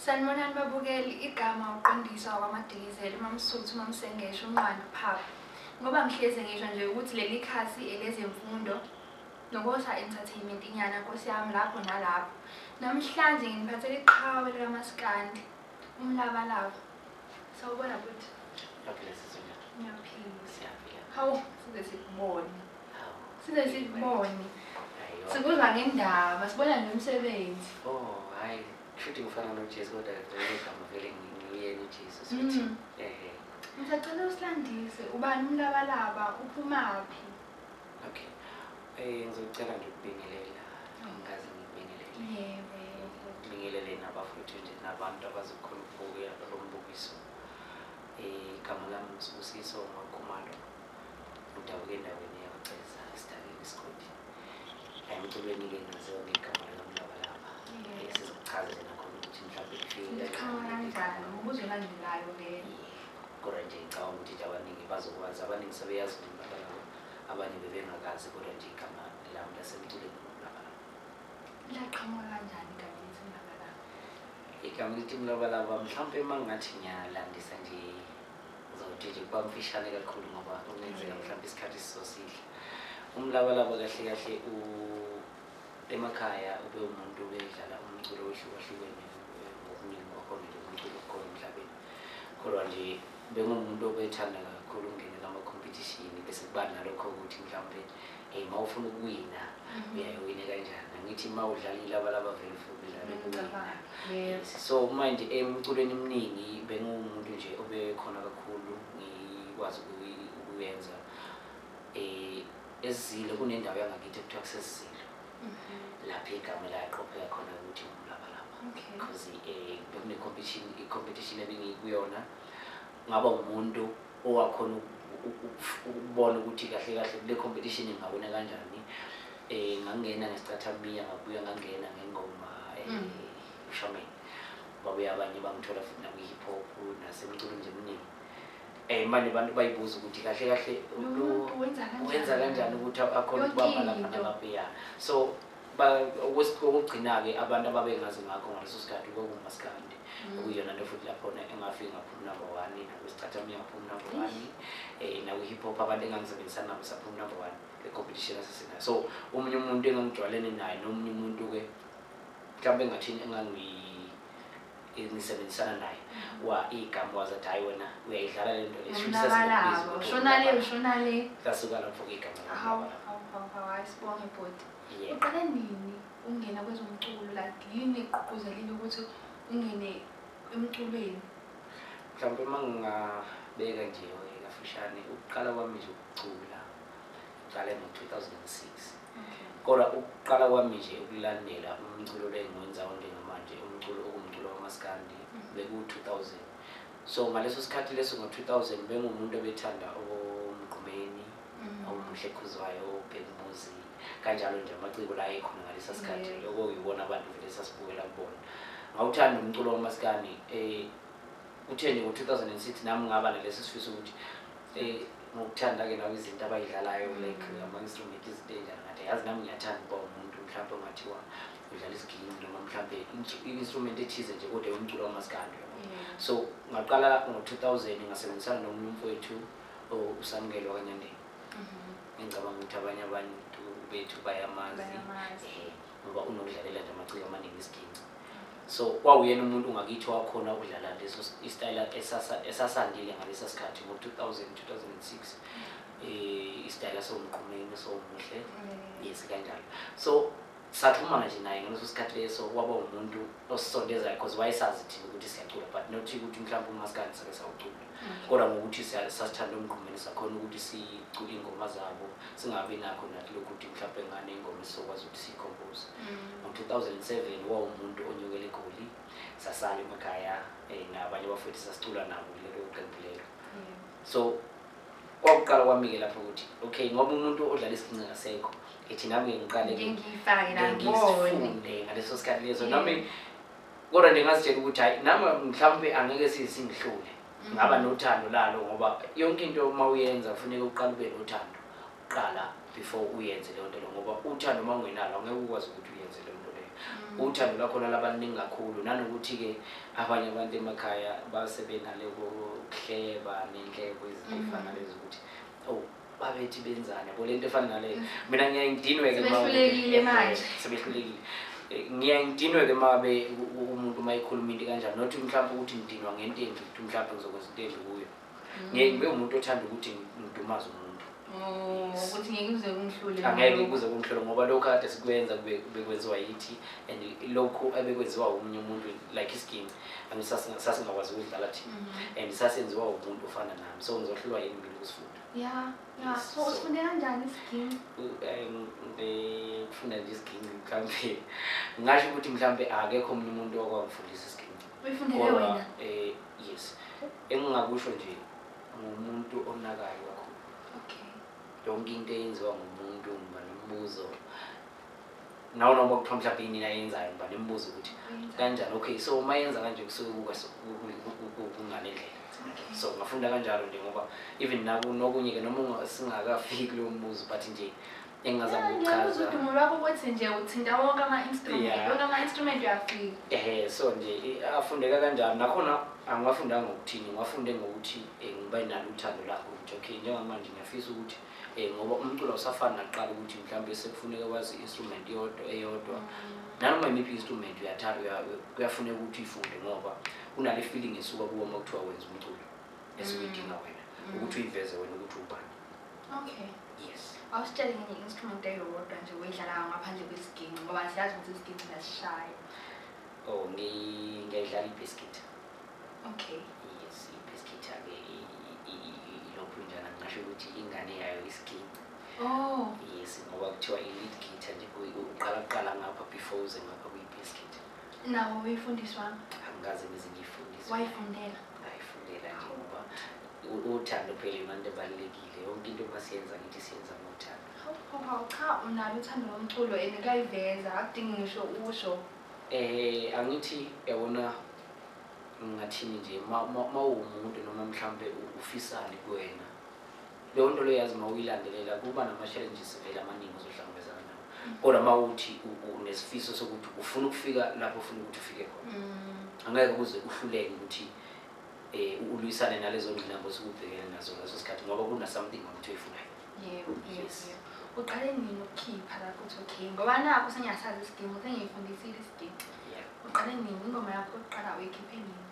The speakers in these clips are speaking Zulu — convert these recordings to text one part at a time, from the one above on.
Sanibonani babukeli, igama uqondiswa kwamadilizeli uMamsuthu uMamsengesho uNqwanda uPhaphu. Ngoba ngihlezi ngisho nje ukuthi leli khasi elezemfundo nokosa entertainment inyana nkosi yami lapho nalapho. Namhlanje nginiphathele iqhawe likamaskandi umlabalaba. Sawubona bhuti. Ngiyaphila sisi wena. Ngiyaphila. Siyaphila. Hawu, size sikubone. Hawu. Size sikubone. Sikuzwa ngendaba, sibona nomsebenzi. Oh, hayi. Kushuthi ngifana noJesu kodwa ngegama vele ngiyena uJesu sithi. Mm. Eh. Ngisacela usilandise, ubani umlabalaba, uphumaphi? Okay. Eh ngizocela nje ukubingelela. Ngazi ngibingelele. Yebo, yebo. Ngibingelele nabafowethu nje nabantu abazokhona ukubuka lo mbukiso. Eh igama lami ngisibusiso ngokhumalo. Ngidabuke endaweni yakuceza esidakeni isigodi. Emculweni ke ngaziwa ngegama likamlabalaba. Eh sizokuchazela nakho ukuthi mhlawumbe kufike. Ngiqhamuka kanjani? Umbuzo olandelayo ke. Kodwa nje ngicabanga ukuthi nje abaningi bazokwazi abaningi sebeyazi nje umlabalaba. abanye bebengakazi kodwa nje igama lami lasemculweni ngomlabalaba laqhamuka kanjani igama elithi umlabalaba igama elithi umlabalaba mhlawumpe uma ngathi ngiyalandisa nje uzothi nje kuba mfishane kakhulu ngoba kungenzeka mhlawumpe isikhathi sisosihle umlabalaba kahle kahle emakhaya ube umuntu bedlala umculo ohlukahlukene ngokuningi kwakhona nje umculo okhona emhlabeni kodwa nje bengumuntu obethanda kakhulu ungenela ama-competition bese kuba nalokho ukuthi mhlawumbe um ma ufuna ukuwina mhm. uyayiwine kanjani angithi ma udlala ilabalaba vele ufuna ukudlala ukuwina so manje emculweni eminingi benguwumuntu nje obekhona kakhulu ngikwazi ukuyenza um esizile kunendawo yangakithi ekuthiwa kusesizile mhm. lapho igama elaqopheka khona ukuthi ngumlabalaba because eh, bekune-competition i-competition ebengiyikuyona ngaba umuntu owakhona ukubona ukuthi kahle kahle kule competition ngingawina kanjani eh ngangena ngesicathambiya ngabuya ngangena ngengoma eh, mm. ushameni babuye abanye bangithola futhi nakwi-hip hop nasemculweni nje eminingi Eh manje abantu bayibuza ukuthi kahle kahle umuntu wenza kanjani ukuthi akhona ukubamba lapha nalapha ya. So okugcina-ke abantu ababengazi ngakho ngaleso sikhathi kwakungumasikandi mm. okuyona nto futhi lakhona engafiki ngaphumi number one nakwesicathamia ngaphumi number one um eh, nakwi-hip hop abantu engangisebenzisana nabo saphumi number one le-competition asesinayo so omunye umuntu engangijwalene naye nomunye umuntu-ke mhlawumbe engathini engangi nisebenzisana naye wa igama wazi athi hayi wena uyayidlala le nto lesashonaleashonalelasuka lapho igamaasibonge bhoti uqale nini ungena kwezomculo like yini egqugquzelile ukuthi ungene emculweni mhlawumpe uma ngingabeka nje kafushane ukuqala kwami nje ukucula ngiqale ngo-2006 kodwa ukuqala kwami nje ukulandela umculo lengiwenza onke ngamanje umculo okumculo wamaskandi mm. beku-2000 so ngaleso sikhathi leso ngo-2000 bengumuntu obethanda omgqumeni mm. omuhle khuzwayo obhekumuzi kanjalo nje amaciko la ekhona ngalesa sikhathi loko yibona abantu vele sasibukela kubona ngawuthanda umculo wamaskandi um eh, kutheni ngo-2006 nami ngaba nalesi sifiso ukuthi Eh, ngokuthanda ke nawe izinto abayidlalayo like ama-instrument izinto ey'njalo ngathi yazi nami ngiyathanda ukuba umuntu mhlawumbe ongathiwa udlala isiginci noma mhlawumbe i-instrument ethize nje kodwa yomculo wamasikandi so ngaqala ngo-two thousand ngasebenzisana nomunye umfowethu usamukelo kanyandeni mhm. ngicabanga ukuthi abanye abantu bethu bayamazi eh, ngoba unokudlalela nje amaciko amaningi isiginci so kwawuyena umuntu ngakithi wakhona ukudlala leso isitayela esasandile ngalesa sikhathi ngo-2000 2006 um isitayela sowumqumeni sowumuhle mm. yes kanjalo so saxhumana nje naye ngaleso sikhathi leso waba umuntu osisondezayo because wayesazi thina ukuthi siyacula but not ukuthi mhlawumbe umaskandi sake sawucula kodwa ngokuthi sasithanda umgqumeni sakhona ukuthi sicule iy'ngoma zabo singabi nakho nathi lokhu ukuthi mhlawumpe ngane ingoma esizokwazi ukuthi siyikhompoze mm. ngo-two thousand seven wawumuntu onyukele egoli sasala emakhaya um nabanye abafowethu sasicula nabo kulelo qembu lelo so kwakuqala kwami-ke lapho ukuthi okay ngoba umuntu odlala isiginci ngasekho ethi nami-ke ngiqale ngifunde ngaleso sikhathi leso nami kodwa nje ngazitshela ukuthi hayi nami mhlawumbe angeke singihlule mm. ngaba nothando lalo ngoba yonke into uma uyenza kufuneka uqala ube nothando uqala before uyenze leyo nto leyo ngoba uthando uma ungenalo angeke ukwazi ukuthi uyenze leyo nto leyo mm. uthando lakhona labaningi kakhulu nanokuthi-ke abanye abantu emakhaya basebenalekokuhleba nenhlebo ezifana mm. lezi ukuthi oh babethi benzani yabo lento efana naleyo mm. mina ngiyaye ngidinwe-ke sebehlulekile manje sebehlulekile eh, ngiyaye ngidinwe-ke uma be umuntu uma ekhuluma into kanjani nothi mhlawumpe ukuthi ngidinwa ngento enje ukuthi mhlawumpe ngizokwenza into enje kuyo mm. ngiye ngibe umuntu othanda ukuthi ngidumaze umuntu Oh, ukuthi ngeke kuze kungihlule angeke kuze kungihlule ngoba lokhu kade sikwenza bekwenziwa yithi and lokhu ebekwenziwa omunye umuntu like isginci sasingakwazi ukudlala thina mhm. and sasenziwa umuntu ofana nami so ngizohlulwa yini mina ukusifuna ya ya so So- usifunde kanjani isiginci Eh, ngi- ngifunda nje isiginci mhlawumbe ngingasho ukuthi mhlawumbe akekho omunye umuntu okwangifundisa isiginci uyifundele Kodwa, wena eh, yes engingakusho nje ngumuntu onakayo kakhulu okay yonke into eyenziwa ngumuntu ngiba nombuzo nawo noma kuthiwa mhlawumbe yini ayenzayo ngoba nimbuza ukuthi kanjani okay so uma yenza kanje kusuke kuka kunganendlela so ngafunda kanjalo nje ngoba even nokunye ke noma singakafiki kulowo mbuzo but nje engingazama ukuchaza udumo lwakho ukuthi nje uthinta wonke ama-instrument wonke ama-instrument uyafika ehe so nje afundeka kanjalo nakhona angiwafundanga ngokuthini ngiwafunde ngokuthi eh, ngiba nalo uthando lakho ukuthi okay njengamanje ngiyafisa ukuthi eh ngoba umculo usafana naqala ukuthi mhlawumbe sekufuneka wazi instrument yodwa eyodwa nanoma imiphi instrument uyathanda kuyafuneka ukuthi uyifunde ngoba kunale feeling esuka kuwo uma kuthiwa wenza umculo esiwidinga mm. wena mm. ukuthi uyiveze wena ukuthi ubani okay yes awusitshele ngenye instrument eyodwa nje uyidlalayo ngaphandle kwesiginci ngoba siyazi ukuthi isiginci siyasishaya oh ngiyidlala i-biscuit okay yes ibhiskithi ake ilokhu njana ngingasho ukuthi ingane yayo isiginci oh yes ngoba kuthiwa i-lead guitar nje uqala kuqala ngapha before uze ngapha kuyibhiskithi nawo uyifundiswa angikaze ngize ngiyifundiswa wayifundela ngayifundela nje ngoba uthando phela imali ebalulekile yonke into masiyenza ngithi siyenza ngothando cha unalo uthando lomculo and kuyayiveza akudingi ngisho usho Eh angithi yabona ngingathini nje mawumuntu noma mhlambe ufisani kuwena leyo nto leyo yazi mawuyilandelela kuba nama-challenges vele amaningi ozohlangabezana nawo mm. kodwa uma uthi unesifiso sokuthi ufuna ukufika lapho ufuna ukuthi ufike khona mm. angeke kuze uhluleke ukuthi um ulwisane nalezo ngqinamba osukubhekene nazo leso sikhathi ngoba kuna-something ukuthi oyifunayo yebo yes uqale nini ukukhipha lapho uthi okay ngoba nakho sengiyasazi isidingo sengiyifundisile isidingo uqale nini ingoma yakho uqala uyikhiphe nini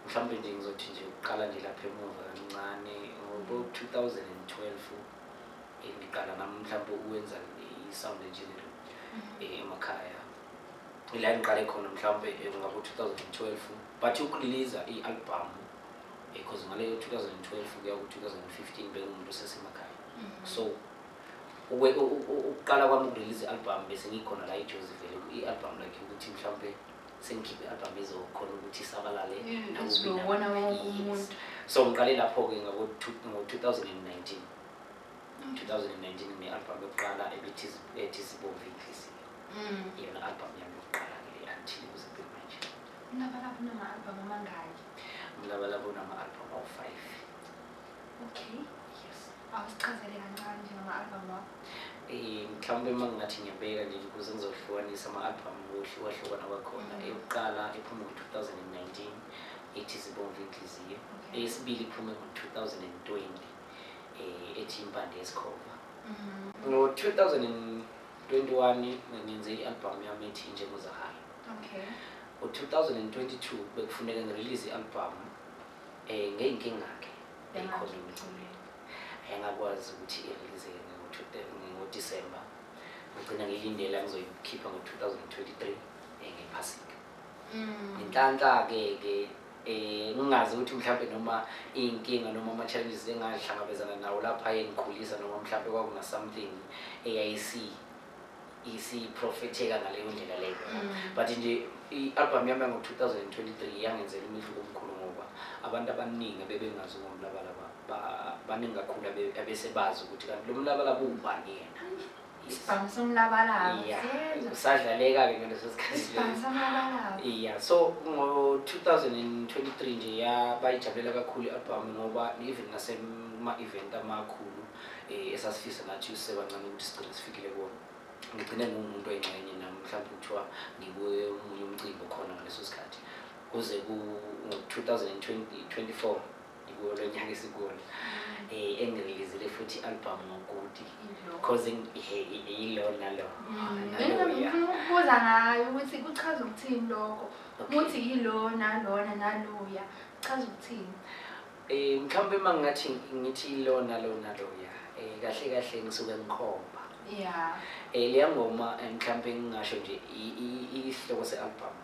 mhlawumbe nje ngizothi nje uqala nje lapha emuva kancane ngo-2012 eh, ngiqala nami mhlawumbe ukwenza i-sound engineering mhm. eh, emakhaya ila ngiqale khona mhlawumbe eh, ngabo-2012 but ukureleasa i-albhamu because ngaleyo 2012 kuya ku-2015 bengumuntu osesemakhaya mm-hmm. so ukuqala kwami ukurelease i-album bese ngikhona la ijozi vele i-album lakhe ukuthi mhlawumpe sengikhiphe i-album ezokhona ukuthi isabalale mm, so ngiqale lapho-ke ngo-2019 2019 nginealbum yokuqala ebithi zibomvu inhliziyo iyona album yami yokuqala ke until kuze manje ungabalaphi noma-album amangaki Umlabalaba unama-albhamu awu-five. Okay. Yes. Awusichazele kancane nje ngama-albhamu wakho. Eh, mhlawumbe uma ngingathi ngiyabeka nje ukuze ngizohlukanisa ama-albhamu kuhle kwahlukana kwakhona. Mm. Eyokuqala iphume ngo-2019 ethi Zibomvu Inhliziyo. Okay. Eyesibili iphume ngo-2020 eh, ethi Impande Yesikhova. Mhm. Ngo-2021 ngenze i-albhamu yami ethi Njengozahayo. Okay. Ngo-2022 bekufuneka ngirilize i-albhamu um ngey'nkinga-ke eyikhona emculweni ayengakwazi ukuthi irilize ngodisemba ngigcina ngiyilindela ngizoyikhipha ngo-2023 ngephasika mm. ngenhlanhla-ke ke eh ngingazi ukuthi mhlawumbe noma inkinga noma ama challenges engahlangabezana nawo lapha engikhulisa noma mhlawumbe kwakuna something eyayisi isiprofetheka ngaleyo ndlela leyo mm. but nje i-albhamu yami yango-2023 yangenzela umehluko omkhulu ngoba abantu abaningi abebengazi ngomlabalaba baningi kakhulu abesebazi ukuthi kanti lo mlabalaba uwubani yena isibhamu somlabalabausadlaleka-ke ngaleso sikhathi ya so ngo-2023 nje yabayijabulela kakhulu i-albhamu ngoba even nasema-event amakhulu eh, esasifisa nathi usebancane ukuthi sigcine sifikile kuwona ngigcine nguwumuntu oyingxenye nami mhlawumbe kuthiwa ngikuye omunye umcimbi okhona ngaleso sikhathi kuze ku-2024 ngikuwo lo nyaka esikona um mm. eh, engirelizile futhi i-album ngokuti because yilo nalo ukubuza ngayo ukuthi kuchaza ukuthini lokho ukuthi yilona lona naloya kuchaza ukuthini Eh mhlawumbe uma ngathi ngithi lona lona loya eh kahle kahle ngisuke ngikhomba. Yeah. Eh leya ngoma eh, mhlawumbe ngingasho nje isihloko se-album.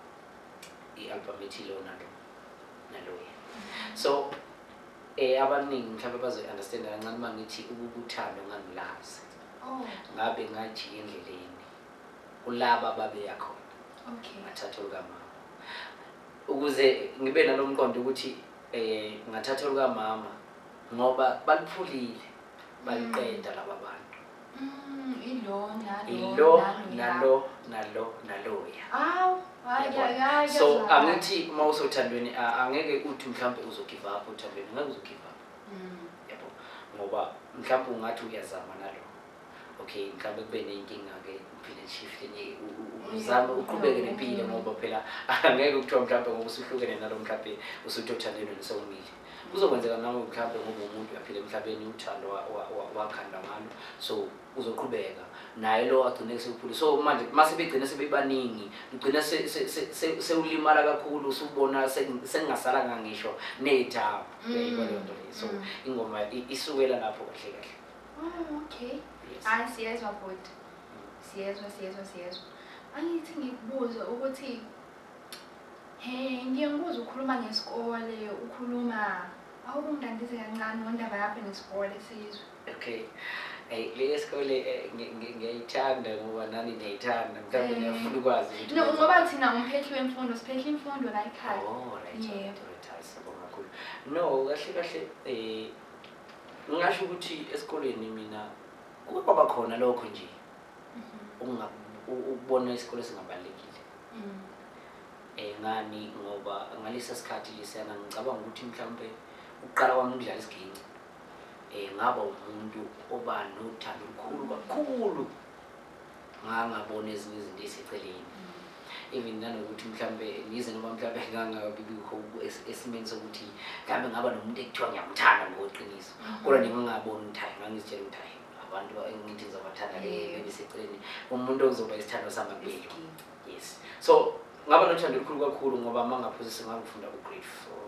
I-album ethi lona lo naloya. Mm-hmm. So eh abaningi mhlawumbe bazoyi-understand kancane uma ngithi ukukuthanda ungangilazi. Oh. Ngabe ngathi endleleni kulaba babeya khona. Okay. Ngathatha ukamama. ukuze ngibe nalomqondo ukuthi eh ngathatha olukamama ngoba baliphulile baliqeda mm. laba bantu Mm, ilo nalo nalo nalo naloya awu so angithi uma usothandweni angeke uthi mhlawumbe uzogive up othandweni ngeke uzogive up mm. yabo ngoba mhlawumbe ungathi uyazama nalo okay mhlawumbe kube ney'nkinga-ke uphile shift enye uzame uqhubeke nempilo ngoba phela angeke kuthiwa mhlawumbe ngoba usuhlukene nalo mhlawumbe usutothandweni nisewumile kuzokwenzeka nawe mhlawumbe ngoba umuntu uyaphila emhlabeni uthando wakhanda ngalo so uzoqhubeka naye lo agcine sekuphule so manje uma sebegcine sebebaningi ugcine sewulimala kakhulu usubona sekungasalanga ngisho ney'thabo mm. so mm. ingoma isukela lapho kahle kahle Oh, okay. Yes. Hayi siyezwa bhuti. Siyezwa siyezwa siyezwa. Angithi ngikubuze ukuthi he ngiye ngibuze ukhuluma ngesikole ukhuluma awukungilandise kancane ngendaba yakho nesikole sizwe. Okay. Hey, le sikole eh, ngi- ngi- ngiyayithanda ngoba nani niyayithanda mhlawumbe Eh. niyafuna ukwazi ukuthi No ngoba niyenzani. thina umphethi wemfundo siphehla imfundo la ekhaya. Oh, right, Yebo. right, right, hayi, siyabonga kakhulu. No, kahle kahle eh ngingasho ukuthi esikoleni mina kuke kwaba khona lokho nje ukubona isikole singabalulekile um ngani ngoba ngalesa sikhathi lesiyana ngicabanga ukuthi mhlawumpe ukuqala kwami ukudlala isiginci um ngaba umuntu oba nothando olukhulu kakhulu ngangabona ezinye izinto eziseceleni even nanokuthi mhlawumbe ngize noma mhlawumbe ngangabibikho esimeni sokuthi mhlawumbe ngaba nomuntu ekuthiwa ngiyamthanda ngokuqiniso mm. kodwa ningangaboni ukuthi hayi ngangizitshela ukuthi hayi abantu engithi ngizobathanda le bendiseceleni umuntu okuzoba isithando sami kuleli yes so ngaba nothando olukhulu kakhulu ngoba uma ngaphuzisa ngangifunda ku-grade four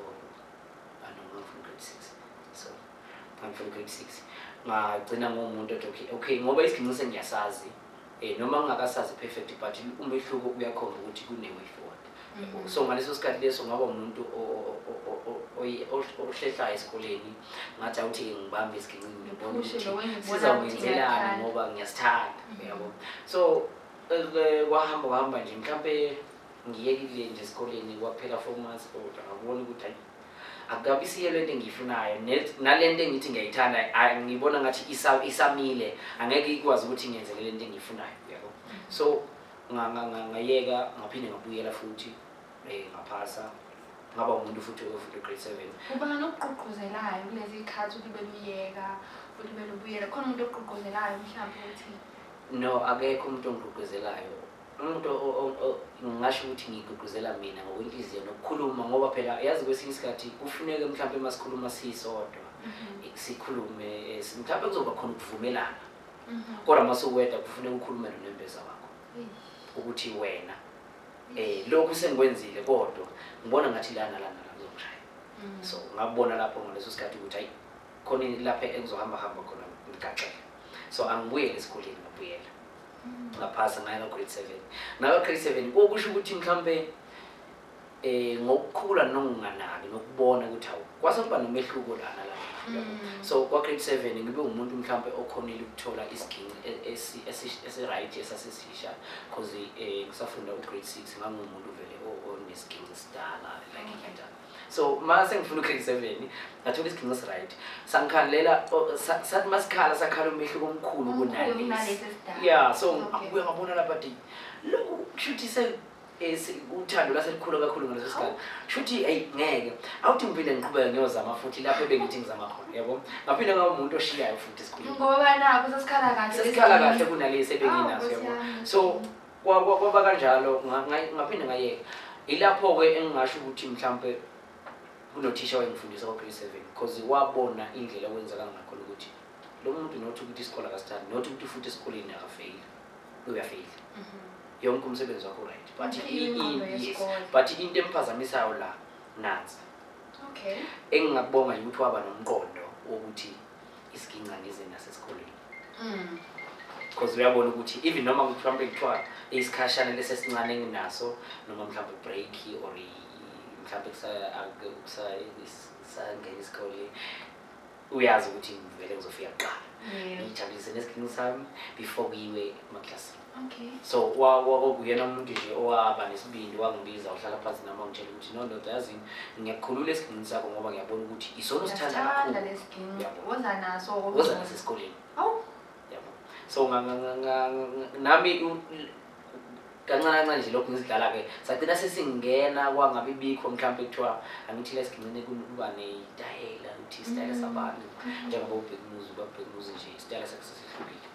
I'm from grade 6 ngagcina ngomuntu othi okay okay ngoba isiginci sengiyasazi eh noma ngingakasazi perfect but umehluko uyakhomba ukuthi kune way forward mm-hmm. so ngaleso sikhathi leso ngaba umuntu ohlehlayo esikoleni ngathi awuthi ngibambe isiginci ngibona ukuthi sizawukwenzelana ngoba ngiyasithanda mm-hmm. yabo so eh, kwahamba kwahamba nje mhlawumbe ngiyekile nje esikoleni kwaphela four months kodwa ngabona ukuthi akukabisiyo le nto engiyifunayo nale nto engithi ngiyayithanda ngibona ngathi isamile angeke ikwazi ukuthi ngenzele le nto engiyifunayo yabo so ngayeka ngaphinde ngabuyela futhi um ngaphasa ngaba umuntu futhi ofuthi grade seven ubani okugqugquzelayo kulezi khathi ukuthi beluyeka futhi belubuyela khona umuntu okugqugquzelayo mhlawumbe ukuthi no akekho umuntu ongigqugquzelayo umuntu ngingasho ukuthi ngigqugquzela mina ngokwenhliziyo nokukhuluma ngoba phela yazi kwesinye isikhathi kufuneke mhlawumpe uma sikhuluma siyisodwa mhm. sikhulume eh, mhlawumpe kuzoba khona ukuvumelana mhm. kodwa uma suweda kufuneka ukhulume nonembeza wakho ukuthi wena um lokhu sengikwenzile kodwa ngibona ngathi lana lana la kuzongishaya mhm. so ngakubona lapho ngaleso sikhathi ukuthi hayi khona lapha engizohamba hamba khona ngigaxele so angibuyele esikoleni ngabuyela ngaphasa ngaye ngagrid seven ngakagrid seven okusho ukuthi mhlawumbe eh ngokukhula nokunganaki nokubona ukuthi hawu kwase kuba nomehluko lana la mm. so kwa grade 7 ngibe umuntu mhlambe okhonile ukuthola isiginci e, esi right esasesisha because eh ngisafunda u grade 6 ngangumuntu vele onesiginci sidala like kanjalo so ma sengifuna ukheli seven ngathola isigcingo siright sangikhalela sathi masikhala sakhala umehluko omkhulu kunale ya so akubuye ngabona lapha ti lokhu kushuthi se eh, uthando laselikhulu kakhulu ngaleso sikhathi shuthi eyi ngeke awuthi ngiphinde ngiqhubeke ngiyozama futhi lapho ebengithi ngizama khona yabo ngaphinde ngaba umuntu oshiyayo futhi esikhulungoba nakho sesikhala kahle sesikhala kahle kunalesi ebenginaso yabo so kwaba kanjalo ngaphinde ngayeka ilapho-ke engingasho ukuthi mhlawumpe kunothisha wayengifundisa kwa-grade seven because wabona indlela okwenzeka ngakhona ukuthi lo muntu nothi ukuthi isikole akasithandi nothi ukuthi futhi esikoleni akafeyile uyafeyila mhm. yonke umsebenzi wakho right but but into emphazamisayo la nansi engingakubonga ukuthi waba nomqondo wokuthi isiginca ngize nasesikoleni mm. because uyabona ukuthi even noma mhlawumbe kuthiwa isikhashana lesesincane enginaso noma mhlawumbe break or mhlawumbe kusangena isikole uyazi ukuthi ngivele ngizofika kuqala ngijabulise nesiginci sami before kuyiwe emaklasini Okay. so wa- wa- kwakuyena umuntu nje owaba nesibindi wangibiza wahlala phansi nami wangitshela ukuthi no ndoda yazini ngiyakukhulula esigingini sakho ngoba ngiyabona ukuthi isona osithanda Sithanda kakhulu lesiginci. Yabo. Woza naso. woza nasesikoleni Awu. yabo so nga- nga- nga- nga- nga- nami u- l- kancane kancane nje lokhu ngizidlala-ke sagcina sesingena kwangabi bikho mhlawumpe kuthiwa angithile esigingcine kuba neyitayela ukuthi isitayela Mm. sabani njengoba ubhekumuzi ubabhekumuzi nje isitayela sakhe sesihlukile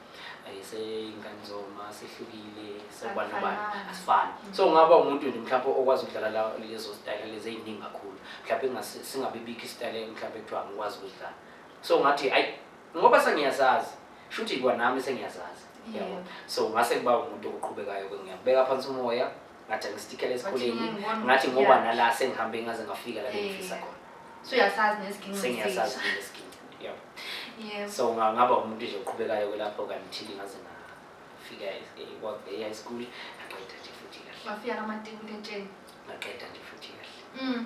seyingane zoma sehlukile sekubana bani asifani so ngaba umuntu nje mhlawumbe okwazi ukudlala lezo style lezi eziningi kakhulu mhlawumbe singabe bikho istyle mhlawumbe kuthiwa ngikwazi ukudlala so ngathi ayi ngoba sengiyazazi shuthi kwanami sengiyazazi yabo so ngase kuba umuntu oqhubekayo ke ngiyabeka phansi umoya ngathi angistikela esikoleni ngathi ngoba nala sengihambe ngaze ngafika la bengifisa eh. khona so uyasazi nesiginci sengiyasazi nesiginci yeah yeah so ngaba umuntu nje oqhubekayo kwelapho kanti ngaze ngafika e-, e-, e-school ngaqeda nje futhi kahle wafika namatikuletsheni ngaqeda nje futhi kahle mm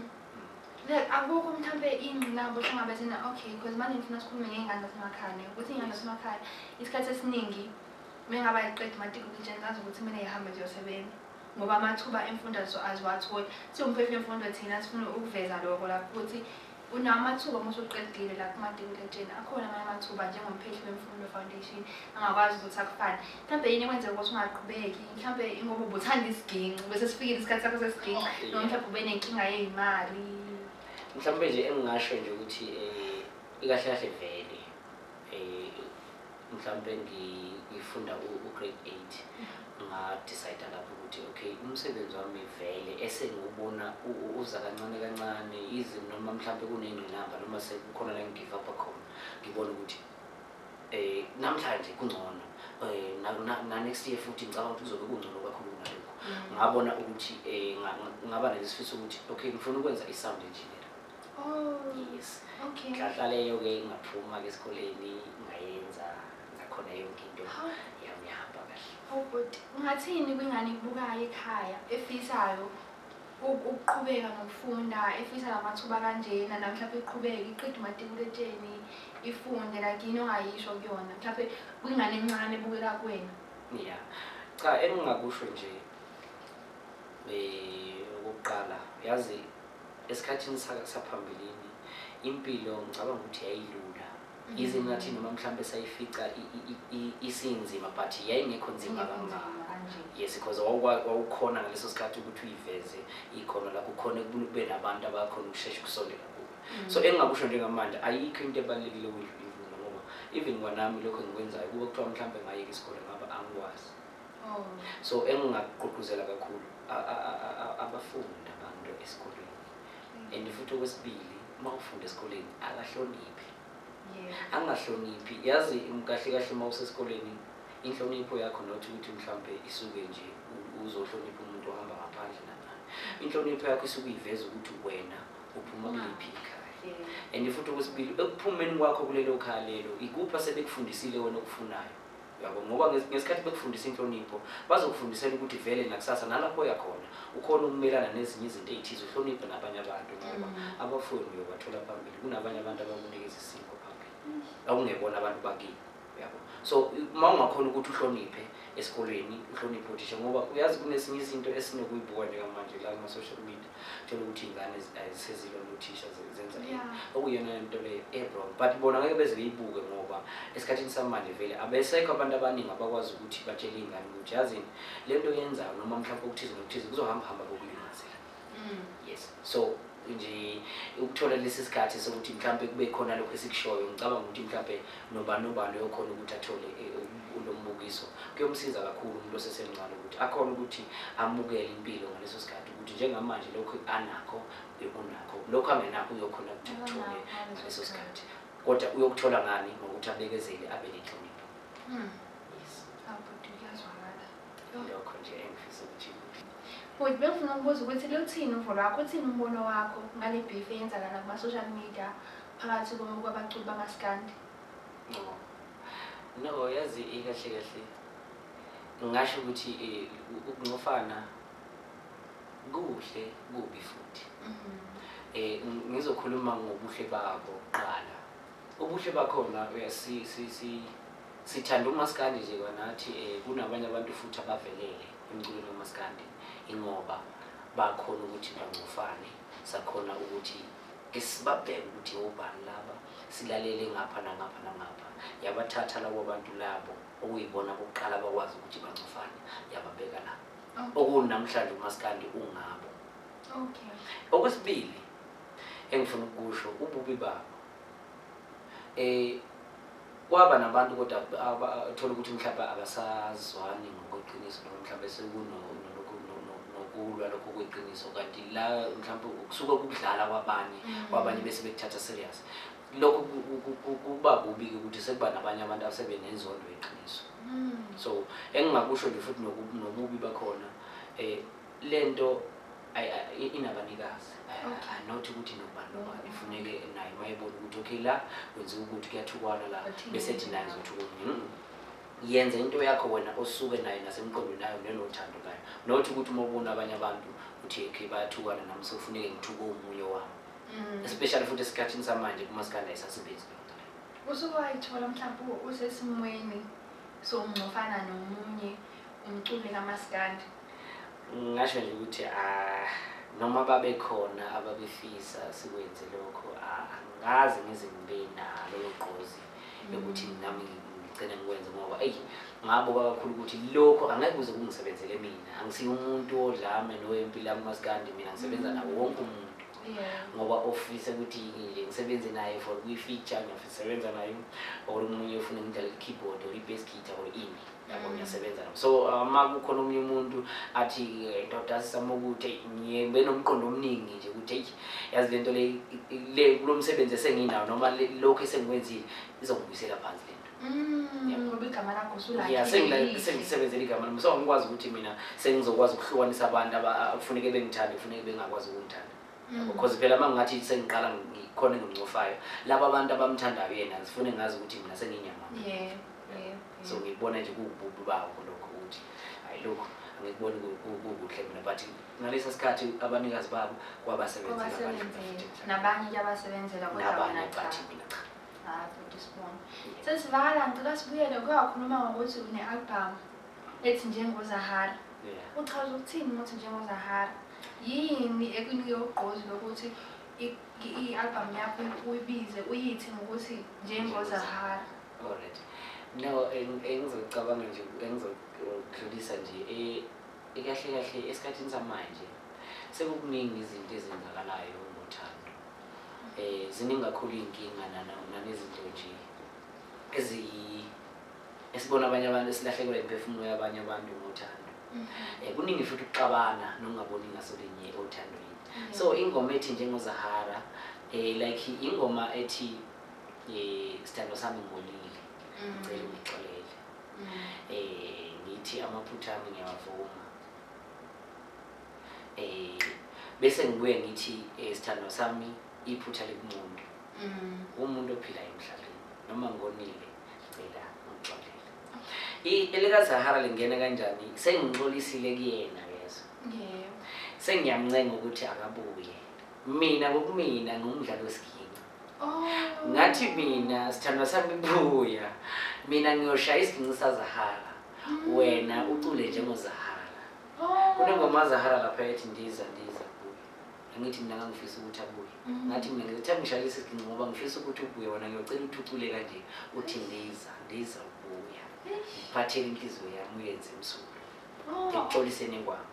akukho mhlawumbe ingqinamba ohlangabezana okay because manje ngifuna sikhulume ngey'ngane zasemakhaya ukuthi iy'ngane zasemakhaya isikhathi esiningi Mengaba ngiqeda umatric nje ngazi ukuthi mina ngihamba nje yosebenza ngoba amathuba emfundo so aziwatholi siwumphefumlo emfundo thina sifuna ukuveza lokho lapho ukuthi unawo amathuba uma usuqedile lapho umatikuletsheni akhona amanye amathuba njengomphehli wemfundo foundation angakwazi ukuthi akufane mhlawumbe yini ekwenzeka ukuthi ungaqhubeki mhlawumbe ingoba ubuthanda isiginci bese sifikile isikhathi sakho sesiginci oh, noma mhlawumbe ube nenkinga yey'mali mhlawumbe nje engingasho nje ukuthi um ikahle kahle vele um mhlawumbe ngifunda u-grade eight ngadicide lapho ukuthi okay umsebenzi wami vele esengiwubona uza kancane kancane izi noma mhlawumbe kuney'ngqinamba noma sekukhona la ngigive up khona ngibone ukuthi um namhlanje kungcono um na-next year futhi ngicabanga ukuthi kuzobe kungcono kakhulu kunalokho mm. ngabona ukuthi um ngaba nalesifiso ukuthi okay ngifuna ukwenza i-sound engineer Oh. Yes. Okay. Nhlahla leyo ke ngaphuma ke esikoleni ngayenza ngakhona yonke into yami yahamba kahle. Oh good. Ungathini kwingane ibukayo ekhaya efisayo ukuqhubeka nokufunda efisa lamathuba kanjena na mhlawumbe iqhubeke iqede umatikuletsheni ifunde like yini ongayisho kuyona mhlawumbe kwingane encane ebukela kuwena ya cha engingakusho nje um okokuqala yazi esikhathini saphambilini impilo ngicabanga ukuthi yayilula mhm. yize ngathi noma mhlawumbe sayifica isinzima but yayingekho nzima kangaka yes because wawukhona ngaleso sikhathi ukuthi uyiveze ikhona lakho khona kube nabantu abakhona ukushesha ukusondela kubo mhm. so engingakusho njengamanje ayikho into ebalulekile ukudlula imvula ngoba even kwanami lokho engikwenzayo kuba kuthiwa mhlawumbe ngayeka isikole ngaba angikwazi oh. so engingakugqugquzela kakhulu abafundi abantu esikoleni mm. and futhi okwesibili uma ufunda esikoleni akahloniphi angahloniphi yazi kahle kahle uma usesikoleni inhlonipho yakho not ukuthi mhlawumbe isuke nje uzohlonipha umuntu ohamba ngaphandle nanani inhlonipho yakho isuke iveza ukuthi wena uphuma kuliphi ikhaya and futhi okwesibili ekuphumeni kwakho kulelo khaya lelo ikuphi asebekufundisile wena okufunayo yabo ngoba ngesikhathi bekufundisa inhlonipho bazokufundisela ukuthi vele nakusasa nalapho oya khona ukhona ukumelana nezinye izinto ey'thize uhloniphe nabanye abantu ngoba mm. abafuni uyobathola phambili kunabanye abantu abakunikeza isiko phambili akungebona abantu bakini yabo so uma ungakhona ukuthi uhloniphe esikolweni uhloniphe uthisha ngoba uyazi kunesinye izinto esinokuyibuka njengamanje la kuma-social media thola ukuthi iy'ngane sezilona uthisha zenza okuyona lento leyo ebron eh, but bona ngeke beze beyibuke ngoba esikhathini samanje vele abesekho abantu abaningi abakwazi ukuthi batshele iy'ngane ukuthi yazini le nto yenzayo noma mhlawumpe okuthize nokuthize kuzohamba hamba kokulimazela mm. yes so nje ukuthola lesi sikhathi sokuthi mhlawumpe kube khona lokho esikushoyo ngicabanga ukuthi mhlawumpe nobani nobani oyokhona ukuthi athole eh, lo mbukiso kuyomsiza kakhulu umuntu osesemncane ukuthi akhona ukuthi amukele impilo ngaleso sikhathi ukuthi njengamanje lokhu anakho bekunakho lokhu angenakho uyokhona ukuthi kuthole ngaleso sikhathi kodwa uyokuthola ngani ngokuthi abekezele abe nenhlonipho hmm. lokho nje engifisa ukuthi Futhi bengifuna ukubuza ukuthi luthini uvo lwakho uthini umbono wakho ngale beef eyenzakala kuma-social media phakathi kwabaculi bamaskandi no yazi ikahle kahle ngingasho ukuthi eh, ukunqofana kuhle kubi futhi eh ngizokhuluma ngobuhle babo kuqala ubuhle bakhona uyasi si si sithanda umaskandi nje kwanathi eh kunabanye abantu futhi abavelele emculweni kamaskandi ingoba bakhona ukuthi bangcofane sakhona ukuthi ke sibabheke ukuthi obani laba silalele ngapha nangapha nangapha yabathatha labo bantu labo okuyibona bokuqala bakwazi ukuthi bangcofane yababeka lapho okuwuni namhlanje umaskandi ungabo okay okwesibili engifuna ukusho ububi babo eh kwaba nabantu kodwa thola ukuthi mhlawumbe abasazwani ngokweqiniso noma mhlawumbe sekunokulwa lokho kweqiniso kanti la mhlawumbe kusuke kukudlala kwabanye mm. kwabanye bese bekuthatha serious lokhu kuba kubi-ke ukuthi sekuba nabanye abantu asebenenzondo yeqiniso mm. so engingakusho nje futhi nobubi bakhona um le nto inabanikazi anothi ukuthi nobani nobani ifuneke naye mayebona ukuthi okay la kwenziwa ukuthi kuyathukwana la bese ethi naye zothukunya mm. yenze into yakho wena osuke nayo nasemqondweni nayo nenothando nayo not ukuthi uma ubona abanye abantu uthi okay bayathukana nami sekufuneke ngithuke omunye wami Mm. Especially futhi esikhathini samanje kuma skanda isasebenzi lento. Usuke wayithola mhlawumbe usesimweni sokungcofana nomunye umculi kamaskandi. Ngasho nje ukuthi ah noma babekhona ababefisa sikwenze lokho ah, angazi ngize ngibe nalo gqozi mm. lokuthi nami ngigcine ngikwenze ngoba eyi ngabo kakhulu ukuthi lokho angeke kuze kungisebenzele mina angisiye umuntu odlame nowempilo akumaskandi mina ngisebenza mm. nawo wonke umuntu ngoba ofisa ukuthi nje ngisebenze naye for kwi-feature ngiyasebenza naye or omunye ufuna ngidlale i-keyboard or i-bass guitar or ini yabo mm. ngiyasebenza nabo so uma uh, kukhona omunye umuntu athi eh, ndoda sisama ukuthi ngiye benomqondo omningi nje ukuthi eyi yazi le nto le kulo msebenzi esenginawo noma lokhu esengikwenzile izongibuyisela phansi le nto ya sengisebenzela igama lami so ngikwazi ukuthi mina sengizokwazi ukuhlukanisa abantu abafuneke bengithande kufuneke bengakwazi ukungithanda mm. because phela uma ngingathi sengiqala ngikhona engimcofayo laba abantu abamthandayo yena zifune ngazi ukuthi mina senginyama so ngikubona nje kuwububi babo lokho ukuthi hayi lokhu angikuboni kukuhle mina but ngalesa sikhathi abanikazi babo kwabasebenzela nabanye kuyabasebenzela kodwa mina cha sesivakala ngicela sibuyele kuyakhuluma ngokuthi une-album ethi njengozahara uchaza ukuthini ukuthi njengozahara yini ekunike ugqozi lokuthi i-album yakho uyibize uyithi ngokuthi njengozahara alright no engizocabanga nje engizodlulisa nje e, e, kahle kahle esikhathini samanje sekukuningi izinto ezenzakalayo eh ziningi kakhulu izinkinga nana nanezinto nje ezi esibona abanye abantu esilahlekelwa imiphefumulo yabanye abantu ngothando mm. eh kuningi futhi ukuxabana nokungaboni ngaso linye othandweni mm. so ingoma ethi njengozahara eh like ingoma ethi eh sithando sami ngolile mm. ngicela ungixolele eh ngithi amaphutha ami ngiyawavuma eh bese ngibuye ngithi eh, sithandwa sami iphutha likunqondo mm. umuntu ophila emhlabeni noma ngonile cela ngixolele elikaZahara lingena kanjani sengixolisile kuyena yezo yeah. sengiyamncenga ukuthi akabuye mina ngokumina ngumdlalo wesiginci oh. ngathi mina sithandwa sami buya mina ngiyoshaya isiginci sazahara mm. wena ucule njengozahara Oh. Kunengoma Zahara lapha ethi ndiza ndiza buya. Angithi mina ngangifisa ukuthi abuye. Mm. Ngathi mina ngithe ngishaya isigcinci ngoba ngifisa ukuthi ubuye wena ngiyocela ukuthi ucule kanje uthi ndiza ndiza ubuya. Ngiphathele inhliziyo yami uyenze emsuku. Oh. Ngixolise nengwama.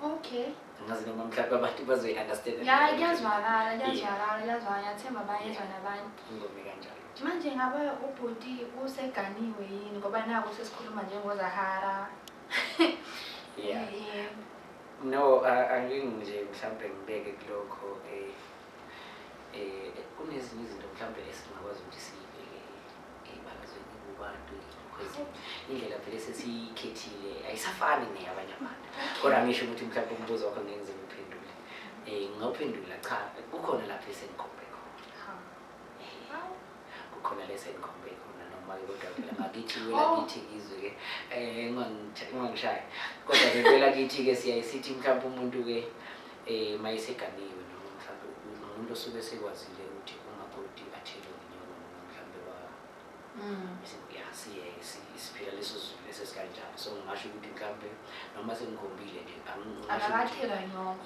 Okay. Ngazi noma mhlawumbe abantu bazoyi-understand. Ya kuyazwakala kuyazwakala kuyazwakala ngiyathemba bayezwa nabanye. Ingoma kanjalo. Manje ngabe ubhuti useganiwe yini ngoba naku sesikhuluma njengozahara yeah Yebo. no a- angeke nje mhlawumbe ngibeke kulokho eh eh kunezinye izinto mhlawumbe esingakwazi ukuthi siyibeke ebalazweni kubantu because indlela vele sesiyikhethile ayisafani neyabanye abantu kodwa ngisho ukuthi mhlawumbe umbuzo wakho ngeke ngize ngiphendule um ngingawuphendula cha kukhona lapho esengikhombe khona kukhona lesengikhombe khona noma-ke kodwa phela ngakithi wela oh. kithi ngizwe-ke um eh, ungangishayi kodwa-ke wela kithi-ke siyaye sithi mhlawumpe umuntu-ke um uma eseganiwe noma mhlawumpe umuntu osuke sekwazile ukuthi umakoti athelwe ngenyoko noma mhlawumpe mm. ya siyeke siphila leso zulu leso sikanjalo so ngingasho ukuthi mhlawumpe noma sengikhombile nje angakathelwa nyoko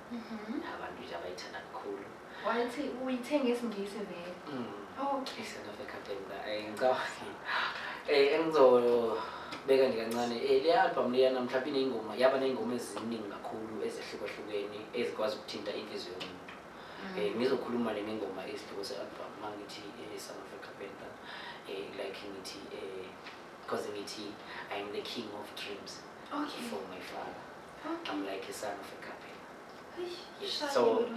Mhm. abantu nje abayithanda kakhulu Wathi uyithenga isingisi vele. Mm. Okay. Island of Ekatengwa. Eh, ngicabanga eh engizobeka nje kancane eh le album leya namhlanje inengoma yaba nengoma eziningi kakhulu ezehlukahlukene ezikwazi ukuthinta inhliziyo yomuntu. Mm. Eh ngizokhuluma le ngengoma isihloko se album mangithi eh Son of Ekatengwa. Eh like ngithi eh because ngithi I'm the king of dreams Okay. for my father. I'm like a son of a couple. So,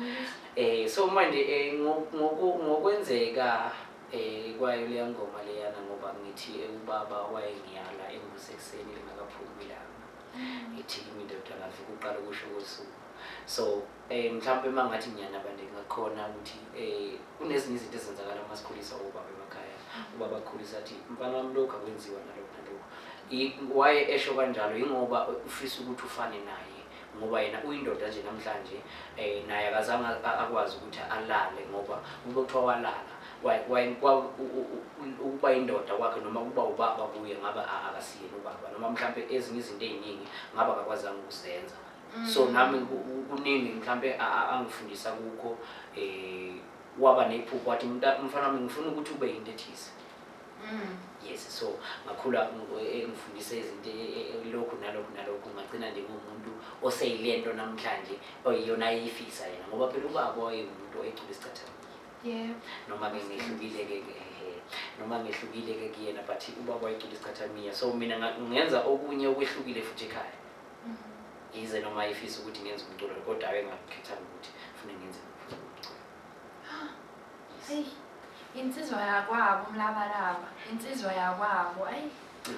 eh, so manje eh, ngokwenzeka eh, kwayo leya ngoma leyana ngoba ngithi eh, ubaba wayengiyala engusekuseni lingakaphumi ilanga mm. ngithi indoda ngavuka uqala ukusho kosuku so Eh mhlawumbe uma ngathi ngiyanaba ndingakhona ukuthi eh kunezinye izinto ezenzakala uma sikhuliswa ubaba emakhaya. Ubaba akhulisa athi mfana wami lokho akwenziwa nalokho nalokho. I- Waye esho kanjalo yingoba ufisa ukuthi ufane naye ngoba yena uyindoda nje namhlanje eh naye akazange a- akwazi ukuthi alale ngoba kube kuthiwa walala Waye- waye- kwa- u- u- u- ukuba indoda kwakhe noma ukuba ubaba kuye ngabe a- akasiyena ubaba noma mhlawumbe ezinye izinto ey'ningi ngabe akakwazanga ukuzenza so mm. nami kuningi mhlampe angifundisa kukho um eh, waba nephupho wathi mfana wami ngifuna ukuthi ube yinto ethize mm. yes so ngakhula engifundise eh, izinto eh, lokhu nalokhu nalokhu ngagcina nje ngumuntu oseyile nto namhlanje oyiyona ayiyifisa yena ngoba phela ubaba wayengumuntu oyecula isicathamile yeah. noma ke ngehlukile ke noma ngehlukile ke kuyena but ubaba wayecula isicathamia so mina ngenza okunye okwehlukile futhi ekhaya yize noma ifisa ukuthi ngenze umculo kodwa abe ngakhetha ukuthi fune ngenze umculo hey insizwa yakwabo umlabalaba insizwa yakwabo ayi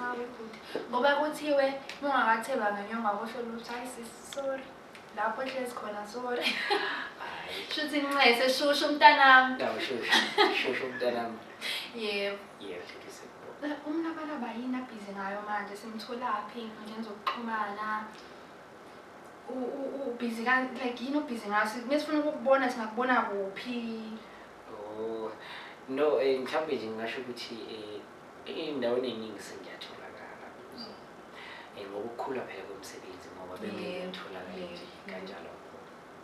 hawe kuthi ngoba kuthiwe mungakathelwa ngenyonga kusho ukuthi ayi sisi sorry lapho ehlezi khona sorry shuthi nxese shushu mntanami shushu mntanami yebo umnabalaba yini abhizi ngayo manje simtholaphi ey'nkundleni zokuxhumana ubhizi like yini obhizi ngayo mesifuna ukukubona singakubona kuphi oh, no eh, mhlawumbe nje ngingasho ukuthi eh, ey'ndaweni ey'ningi sengiyatholakala kuzo um ngokukhula phela komsebenzi ngoba bengiyatholakala nje kanjalo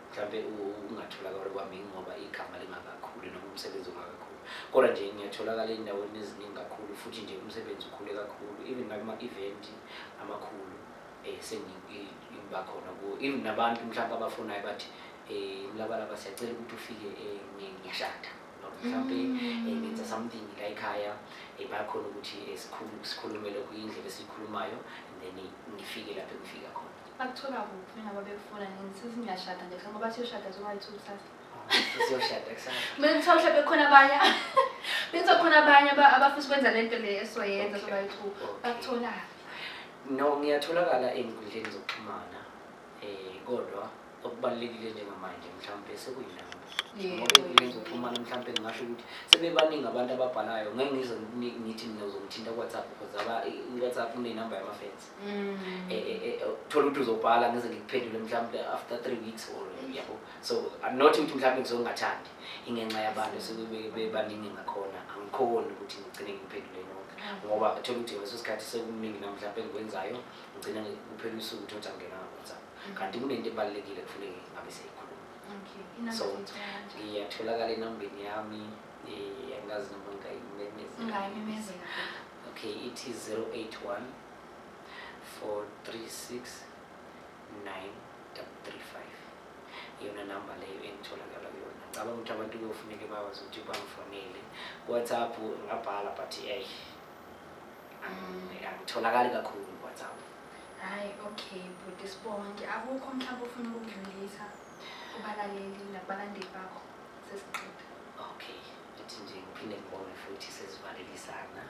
mhlawumbe ukungatholakala kwami yingoba igama lingakakhuli noma umsebenzi ungakakhulu kodwa nje ngiyatholakala ey'ndaweni eziningi kakhulu futhi nje umsebenzi ukhule kakhulu even nakuma-eventi amakhulu um sengiba khona kuwo even nabantu mhlawumbe abafunayo bathi um mlabalaba siyacela ukuthi ufike um ngiyashada mhlawumbe mm. eh, ngenza something la ekhaya eh, bayakhona ukuthi eh, sikhulumele kuyindlela esiyikhulumayo and then ngifike lapho engifika khona Bakuthola kuphi nabo bekufuna nini? Sesingashada nje kusasa ngoba siyoshada zobayi-two kusasa. Siyoshada kusasa. Mina ngithola mhlawumbe kukhona abanye benza khona abanye aba- abafisa ukwenza le nto le esizoyenza Okay. zobayi-two. Okay. Bakutholaphi? No, ngiyatholakala ey'nkundleni zokuxhumana um kodwa okubalulekile njengamanje mhlawumpe sekuyilabo Yebo. ngoba ey'nkundleni zokuxhumana mhlawumpe ngingasho ukuthi sebebaningi abantu ababhalayo ngeke ngize ngini- ngithi mina uzongithinta kuwhatsapp because aba- i-whatsapp unenamba yamafensi mm. e, e, e, thola ukuthi uzobhala ngize ngikuphendule mhlawumbe after three weeks or yabo so not ukuthi mhlawumbe ngizongathandi ingenxa yabantu esebebaningi ngakhona angikhoni ukuthi ngigcine ngiphendule nonke mm. ngoba thola ukuthi ngeso sikhathi sekuningi namhlawumbe engikwenzayo ngigcine kuphela usuku ukuthi othi angena ngawhatsapp mm. kanti kunento ebalulekile kufuneke ngabe seyikhuluma so ngiyatholakala enambeni yami angazi noma ngayimemezela okay ithi 081 436 935 iyona namba leyo engitholakala kuyona ngicabanga ukuthi abantu kuyofuneke bakwazi ukuthi bangifonele whatsapp ngabhala but ey angitholakali kakhulu whatsapp hayi okay bhuti sibonke akukho mhlawumbe ufuna ukudlulisa kubalaleli nakubalandeli bakho sesiqeda okay Ngithi nje ngiphinde ngibonge futhi sesivalelisana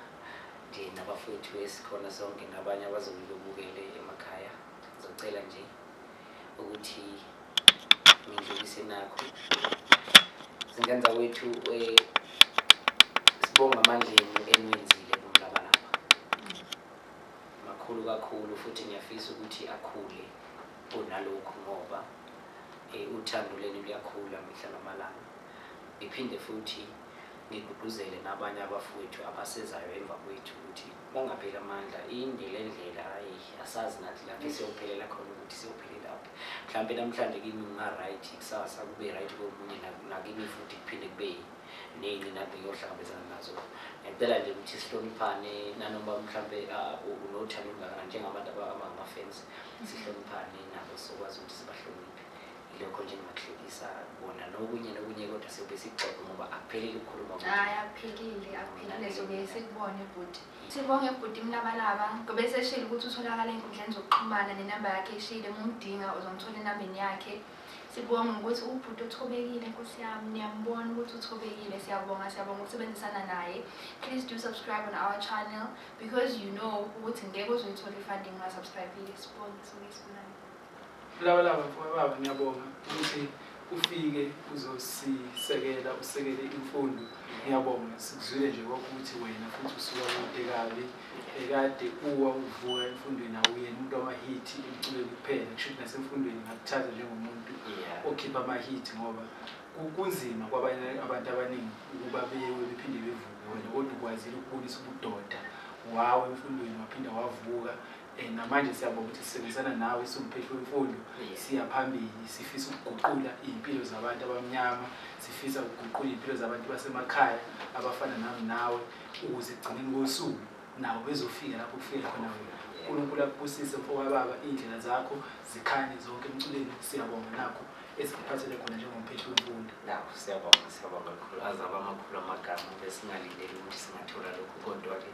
nje nabafowethu esikhona sonke nabanye abazobe bebukele emakhaya ngizocela nje ukuthi ngidlulise nakho zingenza wethu eh, sibonga amandla enu eniwenzile kumlabalaba makhulu kakhulu futhi ngiyafisa ukuthi akhule kunalokhu ngoba eh, uthando lenu luyakhula mihla namalanga Ngiphinde futhi ngigqugquzele nabanye abafowethu abasezayo emva kwethu ukuthi bangapheli amandla inde le ndlela ayi asazi nathi lapho siyophelela khona ukuthi siyophelela phi mhlawumpe namhlanje kimi kunga-right kusasa kube right komunye nakimi futhi kuphinde kube ney'nqinamba ngiyohlangabezana nazo ngicela nje ukuthi sihloniphane nanoma mhlawumpe unothando olungakanani njengabantu abangama-fans sihloniphane nabo sokwazi ukuthi sibahloniphe lokho nje ngingakuhlekisa bona nokunye nokunye kodwa siyobe sixoxe ngoba akuphelile ukukhuluma hayi akuphelile akuphelile sobe sikubone bhuti sibonge bhuti mlabalaba ngoba eseshile ukuthi utholakala enkundleni zokuxhumana nenamba yakhe eshile mumdinga uzomthola enambeni yakhe sibonga ukuthi ubhuti uthobekile nkosi yami niyambona ukuthi uthobekile siyabonga siyabonga ukusebenzisana naye please do subscribe on our channel because you know ukuthi ngeke uzoyithola i-funding ungasubscribile sibonge sibonge sibonani Lawulawa mfowethu baba ngiyabonga ukuthi ufike uzosisekela usekele imfundo ngiyabonga sikuzwile nje kwakuthi wena futhi usuka kude kabi ekade uwa uvuka emfundweni awuyena umuntu wamahithi emculweni kuphela kusho ukuthi nasemfundweni ngakuthatha njengomuntu okhipha amahithi ngoba kunzima kwabanye abantu abaningi ukuba bewe bephinde bevuke wena kodwa ukwazile ukubonisa ubudoda wawo emfundweni waphinde wavuka Eh, namanje siyabonga ukuthi sisebenzisana nawe siwumphethu wemfundo siya phambili sifisa ukuguqula iy'mpilo zabantu abamnyama sifisa ukuguqula iy'mpilo zabantu basemakhaya abafana nami nawe ukuze ekugcineni kosuku nabo bezofika lapho kufike khona wena unkulunkulu akubusise mfowababa iy'ndlela zakho zikhanye zonke emculweni siyabonga nakho esikuphathele khona njengomphethu wemfundo nakho siyabonga siyabonga kakhulu azaba amakhulu amagama besingalindeli ukuthi singathola lokhu kodwa-ke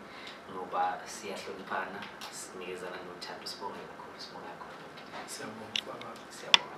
ngoba siyahloniphana sinikezana nothando sibonge kakhulu sibonge kakhulu siyabonga siyabonga